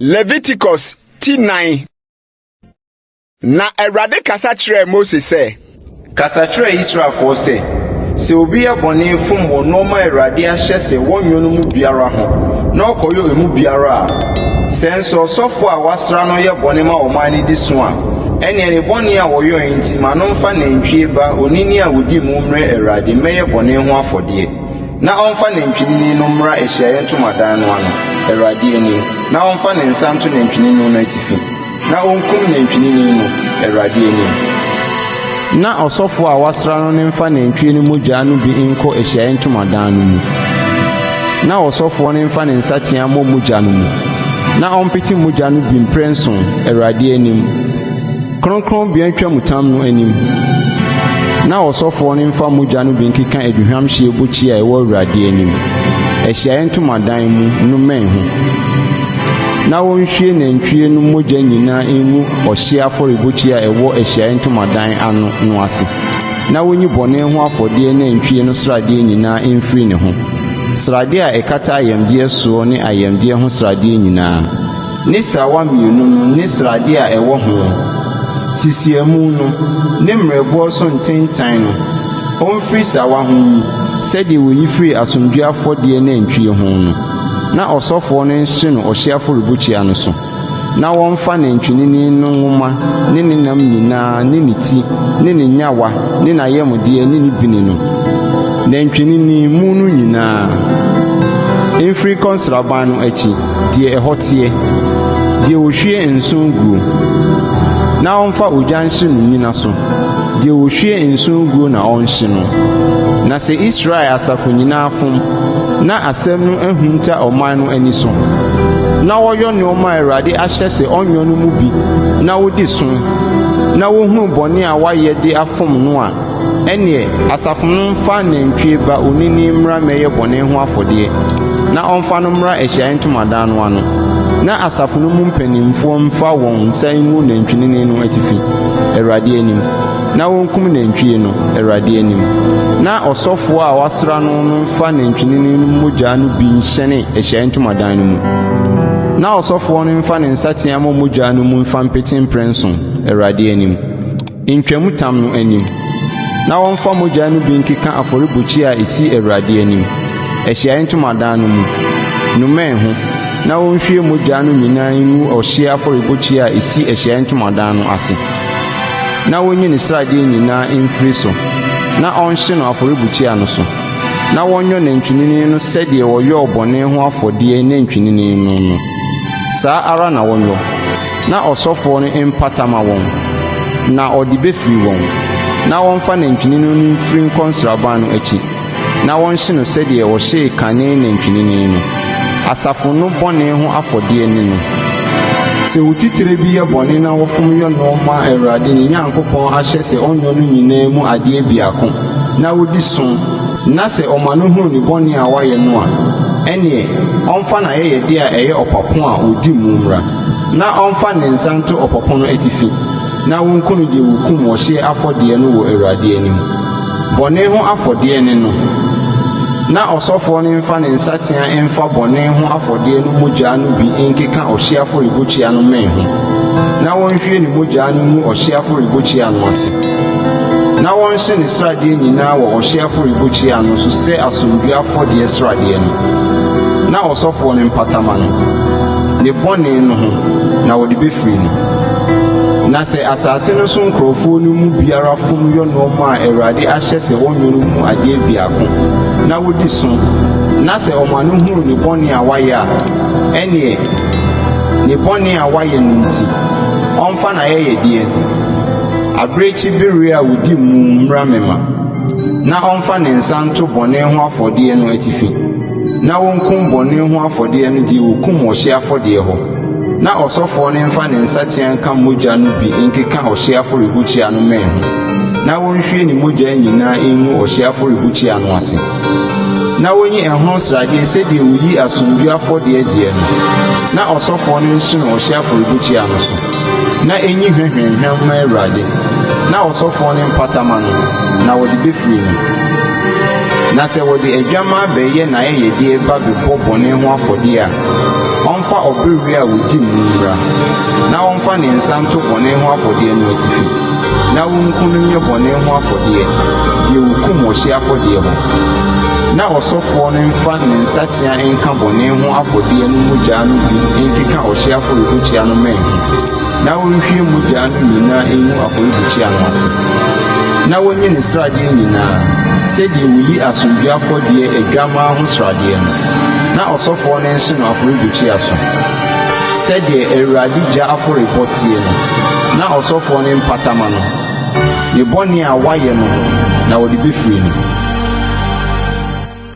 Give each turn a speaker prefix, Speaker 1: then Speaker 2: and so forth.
Speaker 1: Leviticus ti nnan na awurade kasa kyerɛɛ mose sɛ kasa kyerɛ
Speaker 2: israelfoɔ sɛ sɛ obi yɛ bɔne fom wɔ nneɛma a awurade ahyɛ sɛ wɔnyɛ no mu biara ho na ɔkɔyɛ emu biara a sɛ nso ɔsɔfo a wasra no yɛ bɔne ma ɔman no di so a Ɛnneɛ ne bɔne a ɔyɔeɛ nti, ma no mfa nantwie ba onini a ɔdi mu mmrɛ Awurade mmɛyɛ bɔne ho afɔdeɛ, na ɔmfa nantwinini no mmra ahyiaeɛ ntomadan no ano, Awurade anim, na ɔmfa ne nsa nto nantwinini no atifi, na ɔnkum nantwinini no, Awurade anim. Na ɔsɔfoɔ
Speaker 3: a wɔasra no no mfa nantwie no mogya no bi nkɔ ahyiaeɛ ntomadan no mu, na ɔsɔfoɔ no mfa ne nsateaa mmɔ mogya no mu, na ɔmpete mogya no bi mprɛnson Awurade anim, kronkronbea ntwamutam no anim, na ɔsɔfoɔ no mfa mogya no bi nkeka aduhwamhyeɛ bokyia a ɛwɔ Awurade anim, ahyiaeɛ ntomadan mu no mmɛn ho. Na wɔnhwie nantwie no mogya nyinaa ngu ɔhyeɛ afɔrebukyia a ɛwɔ ahyiaeɛ ntomadan ano no ase, na wɔnyi bɔne ho afɔdeɛ nantwie no sradeɛ nyinaa mfiri ne ho, sradeɛ a ɛkata ayamdeɛ soɔ ne ayamdeɛ ho sradeɛ nyinaa, ne sawa mmienu no ne sradeɛ a ɛwɔ ho, sisiamu no ne mmerɛboɔ so ntentan no, ɔmfiri sawa ho nyi, sɛdeɛ wɔyi firii asomdwoeɛ afɔdeɛ nantwie ho no. na ɔsɔfoɔ no nhye no ɔhyeɛ afɔrebukyia no so, na wɔmfa nantwinini no nwoma ne ne nam nyina ara ne ne ti ne ne nnyawa ne n'ayamdeɛ ne ne bini no, nantwinini mu no nyina ara, mfiri nkɔ nsraban no akyi, deɛ ɛhɔ teɛ, deɛ wɔhwie nsõ guo, na ɔmfa ogya nhye no nyina so, deɛ wɔhwie nsõ guo na ɔnhye no. Na sɛ Israel asafo nyina ara fom, Ná asɛm no ahinta ɔman no ani so. Ná wɔyɔ nneɛma a Awurade ahyɛ sɛ ɔnyɔ no mu bi na wodi so. Ná wohunu bɔne a wɔayɛ de afom no a, ɛnneɛ asafo no mfa nantwie ba onini mmra mmɛyɛ bɔne ho afɔdeɛ, na ɔmfa no mmra Ahyiaeɛ Ntomadan no ano, na asafo no mu mpanimfoɔ mfa wɔn nsa ngu nantwinini no atifi, Awurade anim. na wonkum nantwie no Awurade anim, na ɔsɔfoɔ a wasra no no mfa nantwinini no mogya no bi nhyɛne Ahyiaeɛ Ntomadan no mu, na ɔsɔfoɔ no mfa ne nsateaa mmɔ mogya no mu mfa mpete mprɛnson Awurade anim, ntwamutam no anim, na wɔmfa mogya no bi nkeka afɔrebukyia a ɛsi Awurade anim, Ahyiaeɛ Ntomadan no mu, no mmɛn ho, na wɔnhwie mogya no nyinaa ngu ɔhyeɛ afɔrebukyia a ɛsi Ahyiaeɛ Ntomadan no ase. na wonyi ne sradeɛ nyinaa mfiri so na ɔnhye no afɔrebukyia no so, na wɔnyɔ nantwinini no sɛdeɛ wɔyɔɔ bɔne ho afɔdeɛ nantwinini no no, saa ara na wɔnyɔ, na ɔsɔfoɔ no mpata ma wɔn, na ɔde bɛfiri wɔn, na wɔmfa nantwinini no mfiri nkɔ nsraban no akyi. na wɔnhye no sɛdeɛ wɔhyee kane nantwinini no, asafo no bɔne ho afɔdeɛ ne no. Sɛ otitire bi yɛ bɔne na wɔfom yɔ no ma Awurade ne Nyankopɔn ahyɛ sɛ ɔnyɔ no nyinaa mu adeɛ biako na ɔdi so na sɛ ɔma no hunu ne bɔne a wayɛ no a, ɛnneɛ ɔmfa n'ayɛyɛdeɛ a ɛyɛ ɔpapo a wɔdi mu mmra, na ɔmfa ne nsa nto ɔpapo no atifi, na wɔnku no deɛ wɔkum ɔhyeɛ afɔdeɛ no wɔ Awurade anim. Bɔne ho afɔdeɛ ne no. Na ɔsɔfoɔ no mfa ne nsateaa mfa bɔne ho afɔdeɛ no mogyaa no bi nkeka ɔhyeɛ afɔrebukyia no mmɛn ho, na ɔnhwie ne mogyaa no ngu ɔhyeɛ afɔrebukyia no ase, na ɔnhye ne sradeɛ nyinaa wɔ ɔhyeɛ afɔrebukyia no so sɛ asomdwoeɛ afɔdeɛ sradeɛ no, na ɔsɔfoɔ no mpata ma no ne bɔne no ho, na wɔde bɛfiri no. Na sɛ asase no so nkorɔfoɔ no mu biara fom yɔ noɔma a Awurade ahyɛ sɛ wɔnyɔ no mu adeɛ biako, na wɔdi so, na sɛ wɔn ano hunu ne bɔne a wayɛ a, ɛneɛ, ne bɔne a wayɛ no nti, ɔmfa n'ayɛyɛdeɛ, abirekyi bereɛ a ɔdi mu mmra me ma, na ɔmfa ne nsa nto bɔne ho afɔdeɛ no atifi, na wɔnkum bɔne ho afɔdeɛ no deɛ wɔkum ɔhyeɛ afɔdeɛ hɔ. Na ɔsɔfoɔ no mfa ne nsateaa nka mogya no bi nkeka ɔhyeɛ afɔrebukyia no mmɛn ho, na ɔnhwie ne mogya nyinaa ngu ɔhyeɛ afɔrebukyia no ase, na ɔnyi ɛho sradeɛ sɛdeɛ wɔyi asomdwoeɛ afɔdeɛ gyeɛ no, na ɔsɔfoɔ no nhye no ɔhyeɛ afɔrebukyia no so, na ɛnyi hwahwaahwa mma Awurade, na ɔsɔfoɔ no mpata ma no, na wɔde bɛfiri no. Na sɛ wɔde adwammaa bɛyɛ n'ayɛyɛdeɛ ba bɛbɔ bɔne ho afɔdeɛ a, Ɔmfa ɔbere wia a wodi mu no mmra, na ɔmfa ne nsa nto bɔne ho afɔdeɛ no atifi, na ɔnku no nyɛ bɔne ho afɔdeɛ, deɛ wɔkum wɔ hyeɛ afɔdeɛ hɔ. Na ɔsɔfoɔ no mfa ne nsateaa nka bɔne ho afɔdeɛ no mogya no bi nkeka ɔhyeɛ afɔrebukyia no mmɛn ho, na ɔnhwie mogya no nyinaa ngu afɔrebukyia no ase. Na wɔnyi ne sradeɛ nyinaa, sɛdeɛ wɔyi asomdwoeɛ afɔdeɛ adwammaa ho sradeɛ no. Na ɔsɔfoɔ no nhye no afɔrebukyia so, sɛdeɛ Awurade gya afɔrebɔ teɛ no, na ɔsɔfoɔ no mpata ma no ne bɔne a wayɛ no, na wɔde bɛfiri no.